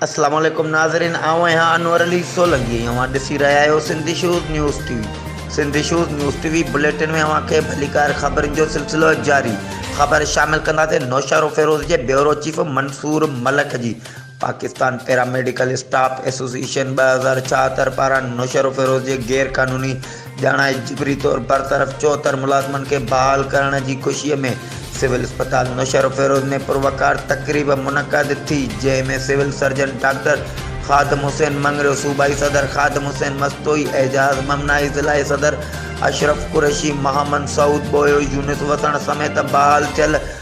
السلام عليڪم ناظرين آئون آهيان انور علي سولنگي ۽ اوهان ڏسي رهيا آهيو Sindhi shows news T V Sindhi shows news T V bulletin ۾ اوهان کي ڀليڪار خبرن جو سلسلو جاري خبر شامل ڪنداسين نوشهرو فيروز جي بيورو چيف منصور ملڪ جي پاڪستان پيراميڊيڪل اسٽاف ايسوسيئيشن ٻه هزار ڇاهتر پاران نوشهروفيروز جي غير قانوني ڄاڻائي جبري طور برطرف چوهتر ملازمن کي بحال ڪرڻ جي خوشي ۾ سول اسپتال نوشهروفيروز ۾ پروقار تقريب منعقد ٿي جنهن ۾ civil surgeon doctor Khadim Hussain Mangrio صوبائي صدر خادم حسين مستوئي اعجاز ممنائي ضلعي صدر اشرف قريشي محمد سعود ٻوهيو يونس وسڻ سميت بحال ٿيل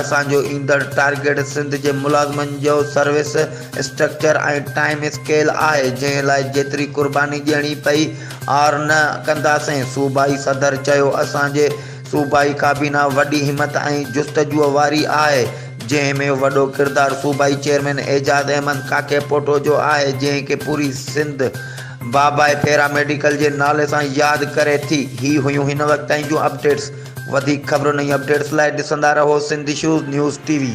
اسان جو ايندڙ ٽارگيٽ سنڌ جي ملازمن جو سروس اسٽرڪچر ۽ ٽائيم اسڪيل آهي، جنهن لاء جيتري قرباني ڏيڻي پئي، عار نه ڪنداسين، صوبائي صدر چيو. اسان جي صوبائي ڪابينا وڏي همت ۽ جستجوء واري آهي، جنهن ۾ وڏو ڪردار صوبائي چيئرمين اعجاز احمد ڪاڪيپوٽو جو آهي، جنهن کي پوري سنڌ بابائي پيراميڊيڪل جي نالي سان ياد ڪري ٿي. هي هيون هن وقت تائين جون اپڊيٽس. وڌيڪ خبرن ۽ اپڊيٽس لاء ڏسندا رهو Sindh issues news T V.